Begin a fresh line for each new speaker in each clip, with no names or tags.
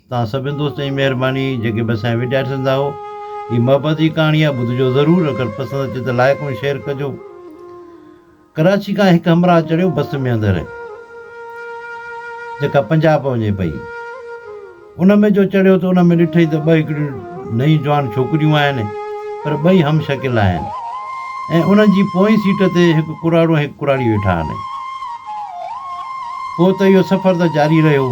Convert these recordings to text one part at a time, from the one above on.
توهان سڀني دوستن جي مهرباني جيڪي به اسان جي وڊيا ڏسندا اهو هي محبت جي ڪهاڻي آهي ٻڌجو ضرور اگر پسند اچي ته لائق ۽ شيئر ڪجو ڪراچي کان هڪ همراهه چڙهيو بس ۾ اندر جيڪا پنجاب وڃي پئي ان ۾ جو چڙهيو ته ان ۾ ڏٺئي ته ٻه هڪڙيون نئيون جوان ڇوڪريون آهن پر ٻئي هم شڪل آهن ۽ انهن جي پوئين سيٽ تي هڪ ڪراڙو ۽ هڪ ڪراڙي ويٺا آهن پوء ته اهو سفر ته جاري رهيو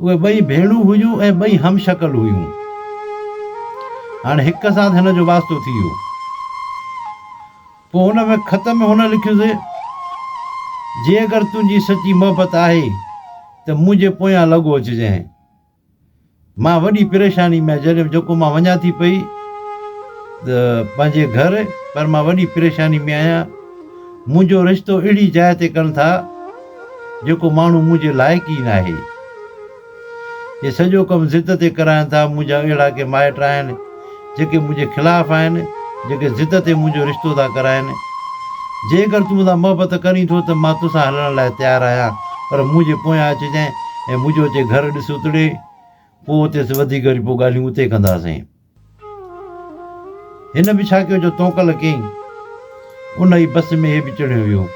اهي ٻئي ڀيڻون هيون ۽ ٻئي هم شڪل هيون. هاڻي هڪ سان هن جو واسطو ٿي ويو. پوء هن ۾ خط ۾ هن لکيس، جي اگر تنهنجي سچي محبت آهي ته منهنجي پويان لڳو اچجانء. مان وڏي پريشاني ۾ جڏهن جيڪو مان وڃان ٿي پئي ته پنهنجي گهر پر مان وڏي پريشاني ۾ آهيان. منهنجو رشتو اهڙي جاء تي ڪن ٿا. جيڪو ماڻهو منهنجي لائق ئي ناهي. هي سڄو ڪم ضد تي ڪراين ٿا، منهنجا اهڙا ڪي مائٽ آهن، جيڪي منهنجي خلاف آهن، جيڪي ضد تي منهنجو رشتو ٿا ڪرائين. جيڪر تون مون سان محبت ڪرين ٿو ته مان توسان هلڻ لاء تيار آهيان، پر منهنجي پويان اچجانء ۽ منهنجو اچي گهر ڏس اتڙي، پوء اتي وڌيڪ وري پوء ڳالهيون اتي ڪنداسين. هن به ڇا ڪيو جو تونڪل ڪيئين. ان ئي بس ۾ هي به چڙهيو ويو.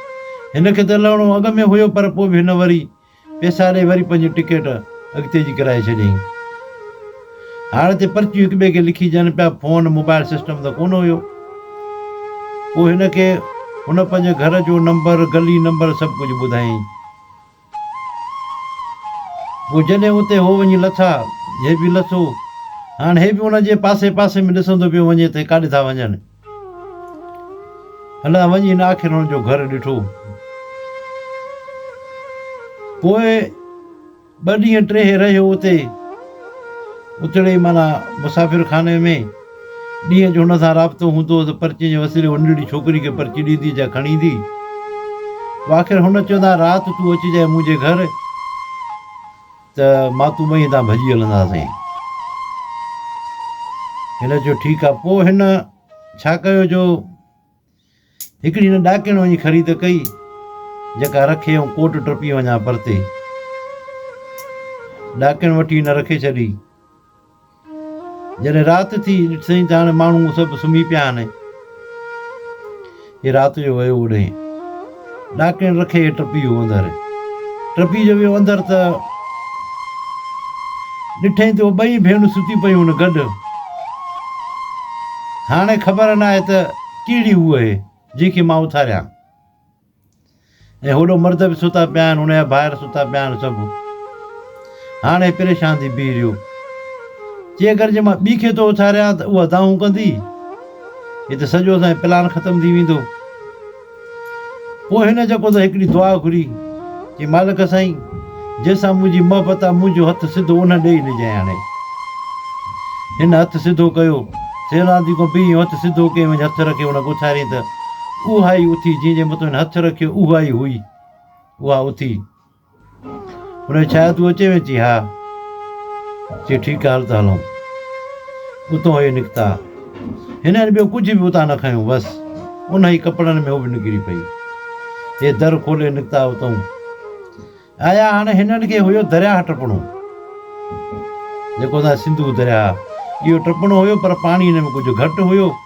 هن کي ته لهڻو اڳ ۾ هيو پر پوء به هن وري پئسا ڏئي وري پنهنجي ٽڪيٽ اڳتي جي ڪرائي ڇڏيائين. هاڻ تي پرچيون هڪ ٻئي کي لکي ڏين پيا. فون موبائل سسٽم ته ڪونه هيو. پوء هن کي هن پنهنجي گهر جو نمبر، گلي نمبر سڀ ڪجهه ٻڌايائين. پوء جڏهن اتي هو وڃي لٿا، هي به لٿو. هاڻ هي به انهن جي پاسي پاسي ۾ ڏسندو پيو وڃي ته هي ڪاڏي ٿا وڃن. الاء وڃي هن آخر هنن جو گهر ڏٺو. پوء ٻه ڏينهن ٽيهه رهيو اتي. اتڙي معنيٰ مسافر خاني ۾. ڏينهن جو هن سان رابطو هوندو هو ته پرچي جي وسيلي هو ننڍڙي ڇوڪري کي پرچي ڏيندي جا کڻي ايندي هو آخر هن چوندو هو رات تون اچجانء منهنجي گهر ته مان تون ٻئي هتان ڀڄي هلنداسين. هن چيو ٺيڪ آهي. پوء هن ڇا ڪيو جو هڪڙي هن ڏاڪڻ وڃي خريد ڪئي، جيڪا رکي ۽ ڪوٽ ٽپي وڃان پرتي. ڏاڪڻ وٺي هن رکي ڇڏي. جڏهن رات ٿي، ڏٺسين ته هاڻي ماڻهو سڀ سمهي پيا آهن. هي رات جو ويو اوڏهين. ڏاڪڻ رکي ٽپي ويو اندر. ٽپي جو ويو اندر ته ڏٺئي ته اهي ٻئي ڀيڻون ستيون پيون هن گڏ. هاڻي خبر ناهي ته ڪهڙي هو اهي جنهن کي مان اٿاريان. ۽ هوڏو مرد به ستا پيا آهن، ان جا ڀائر ستا پيا آهن سڀ. هاڻي پريشان ٿي بيهي رهيو. چي اگر جي مان ٻي کي ٿو اٿاريان ته اها دانهون ڪندي. هي ته سڄو اسان جو پلان ختم ٿي ويندو. پوء هن جيڪو ته هڪڙي دعا گهري، چي مالڪ سائين! جنهن سان منهنجي محبت آ، منهنجو هٿ سڌو انهن ڏي ئي ڏجانء هاڻي. هن هٿ سڌو ڪيو، سيل آنديڪو به ايئن هٿ سڌو ڪيئي وڃ هٿ رکي هن کي اٿاريائين ته اها ئي اٿي جنهن جي مٿو هن هٿ رکيو اها ئي هئي اها اٿي هن کي ڇا تون اچي ويهه چي ها چي ٺيڪ آ هل ته هلون. اتان اهي نڪتا. هنن ٻيو ڪجهه به اتان نه کنيو بس انهي ڪپڙن ۾ هو به نڪري پئي. هي در کولي نڪتا اتان آيا هاڻي هنن کي هيو درياهه ٽپڻو جيڪو اسان سنڌو درياهه اهو ٽپڻو هيو پر پاڻي هن ۾ ڪجهه گهٽ هيو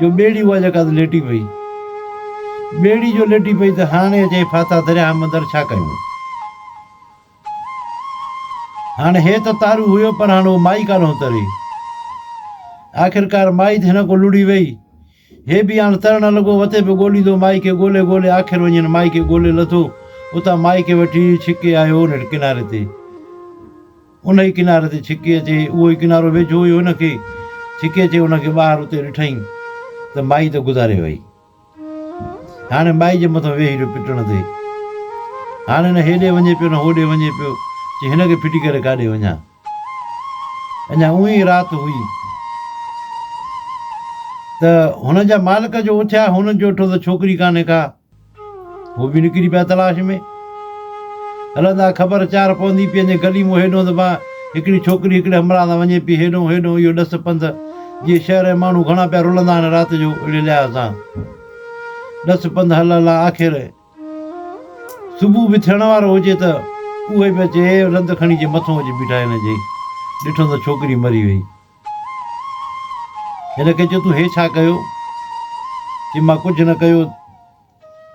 جو ٻيڙي اها جيڪا ته ليٽي پئي. ٻيڙي جو ليٽي پئي ته هاڻي اچي ڦاٿا درياهه مندر ڇا ڪيون؟ هاڻي هي ته تارو هيو پر هاڻي اهو مائي ڪانه هو تري. آخرڪار مائي ڌن ڪو لڙهي وئي. هي به هاڻي ترڻ لڳو وتي به ڳوليندو مائي کي ڳولي ڳولي آخر وڃي هن مائي کي ڳولي لڌو. اتان مائي کي وٺي ڇڪي آيو انهيء ڪناري تي. ان ئي ڪناري تي ڇڪي اچي، اهو ئي ڪنارو ويجهو هيو هن کي، ڇڪي اچي هن کي ٻاهر اتي ڏٺائين ته مائي ته گذاري وئي. هاڻي مائي جي مٿان ويهي رهيو پٽڻ تي. هاڻي نه هيڏي وڃي پيو نه هوڏي وڃي پيو، چي هن کي ڦٽي ڪري ڪاڏي وڃان. اڃا اونهي ئي رات هئي ته هن جا مالڪ جو اٿيا، هنن چيو ڏٺو ته ڇوڪري ڪانهي ڪا. هو به نڪري پيا تلاش ۾. هلندا خبر چار پوندي پئي وڃي گلي مون هيڏهون ته بان هڪڙي ڇوڪري هڪڙي همراهه سان وڃي پئي هيڏهون هيڏهون اهو ڏس پنڌ جيئن شهر ۽ ماڻهو گهڻا پيا رلندا آهن رات جو اهڙي لحاظ سان ڏس پنڌ هل هل آخر صبح به ٿيڻ وارو هجي ته اهي به اچي رند کڻي جي مٿون اچي بيٺا هن جي ڏٺو ته ڇوڪري مري وئي هن کي چيو تون هي ڇا ڪيو؟ چي مان ڪجهه نه ڪيو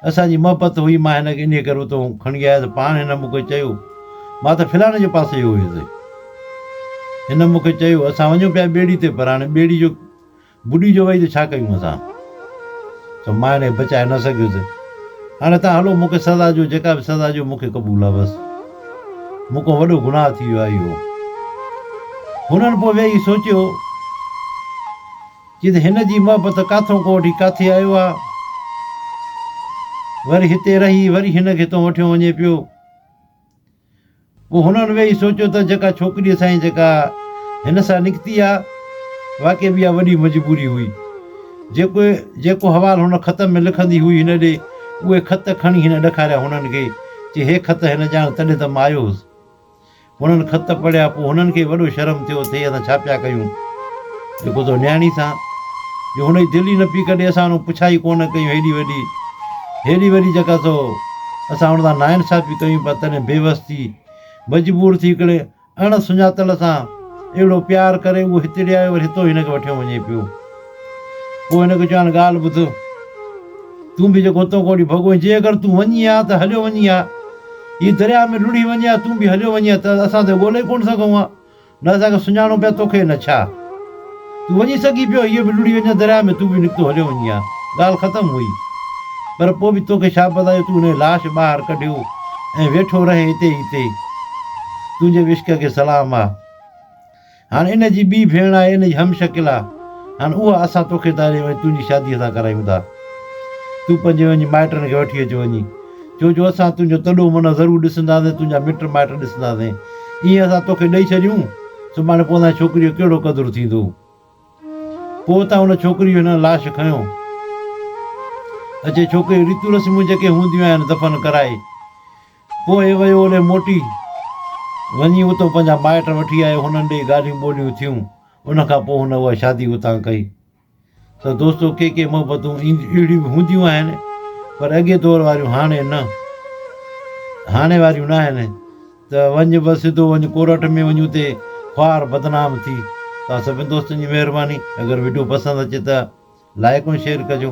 اسان جي محبت هئي مان هن کي انهي ڪري اتو کڻي آيو ته پاڻ هن مون کي چيو مان ته فلاڻي جي پاسي ويو هيس هن مون کي چيو اسان وڃون پيا ٻيڙي تي پر هاڻي ٻيڙي جو بڏي جو وئي ته ڇا ڪيون اسان ته مان هن کي بچائي نه سگهيس هاڻي تان هلو مون کي سزا ڏيو جيڪا به سزا ڏيو مون کي قبول آهي بس مون کان وڏو گناهه ٿي ويو آهي اهو. هنن پوء ويهي سوچيو چي ته هن جي محبت ڪاٿئون کان وٺي ڪاٿي آيو آهي. وري هتي رهي وري هن کي هتئون وٺيو وڃي پيو. پوء هنن ويهي سوچيو ته جيڪا ڇوڪريء سائين جيڪا هن سان نڪتي آهي واقعي به اها وڏي مجبوري هئي. جيڪو جيڪو حوال هن خط ۾ لکندي هئي هن ڏي اهي خط کڻي هن ڏکاريا هنن کي. چي هي خط هن ڄاڻ تڏهن ته مان آيو هوس. هنن خط پڙهيا پوء هنن کي وڏو شرم ٿيو تھ اهي اسان ڇا پيا ڪيون جيڪو تو نياڻي سان جو هن جي دل ئي نه پي ڪڍي اسان هنون پڇا ئي ڪونه ڪيون هيڏي وڏي هيڏي وڏي جيڪا تو اسان هن سان ناانصافي ڪيون پيا تڏهن بيوس ٿي مجبور ٿي هڪڙي اڻ سڃاتل سان اهڙو پيار ڪري اهو هتڙي آيو وري هتو هن کي وٺيو وڃي پيو. پوء هن کي چيو هاڻي ڳالهه ٻڌ. تون به جيڪو هتو کوڙي ڀڳو آهين، جي اگر تون وڃين ها ته هليو وڃين ها. هي درياء ۾ لڙهي وڃين ها تون به هليو وڃين ها ته اسان ته ڳولي ئي ڪونه سگهون ها. نه اسان کي سڃاڻو پيا توکي نه ڇا. تون وڃي سگهين پيو، هيء به لڙهي وڃان درياء ۾، تون به نڪتو هليو وڃين ها. ڳالهه ختم هئي. پر پوء به تو کي ڇا پتا جو تون هن جي لاش ٻاهر ڪڍيو ۽ ويٺو رهين اتي ئي اتي. تنهنجي به عشق کي سلام آ. هاڻ ان جي ٻي ڀيڻ آهي، ان جي هم شڪل آ. هاڻ اها اسان تو کي تاري ۽ تنهنجي شاديء سان ڪرايون ٿا. تون پنهنجي وڃي مائٽن کي وٺي اچ وڃي. ڇو جو اسان تنهنجو تڏو منهن ضرور ڏسنداسين، تنهنجا مٽ مائٽ ڏسنداسين. ائين اسان تو کي ڏئي ڇڏيون. سڀاڻي پوء ان ڇوڪريء جو ڪهڙو قدر ٿيندو؟ پوء اتان ان ڇوڪريء جو هن لاش کنيو اچي ڇوڪريء جون ريتون رسمون جيڪي هونديون آهن دفن ڪرائي پوء ويو اڏي موٽي وڃي اتو پنهنجا مائٽ وٺي آيو هنن ڏيئي ڳالهيون ٻولهيون ٿيون ان کان پوء هن اها شادي اتان ڪئي. ته دوستو ڪي ڪي محبتون اهڙيون به هونديون آهن پر اڳي دور واريون هاڻي نه هاڻي واريون نه آهن ته وڃ بس سڌو وڃ ڪورٽ ۾ وڃ اتي خوار بدنام ٿي توهان سڀني دوستن جي مهرباني اگر وڊيو پسند اچي ته لائڪ ۽ شيئر ڪجو.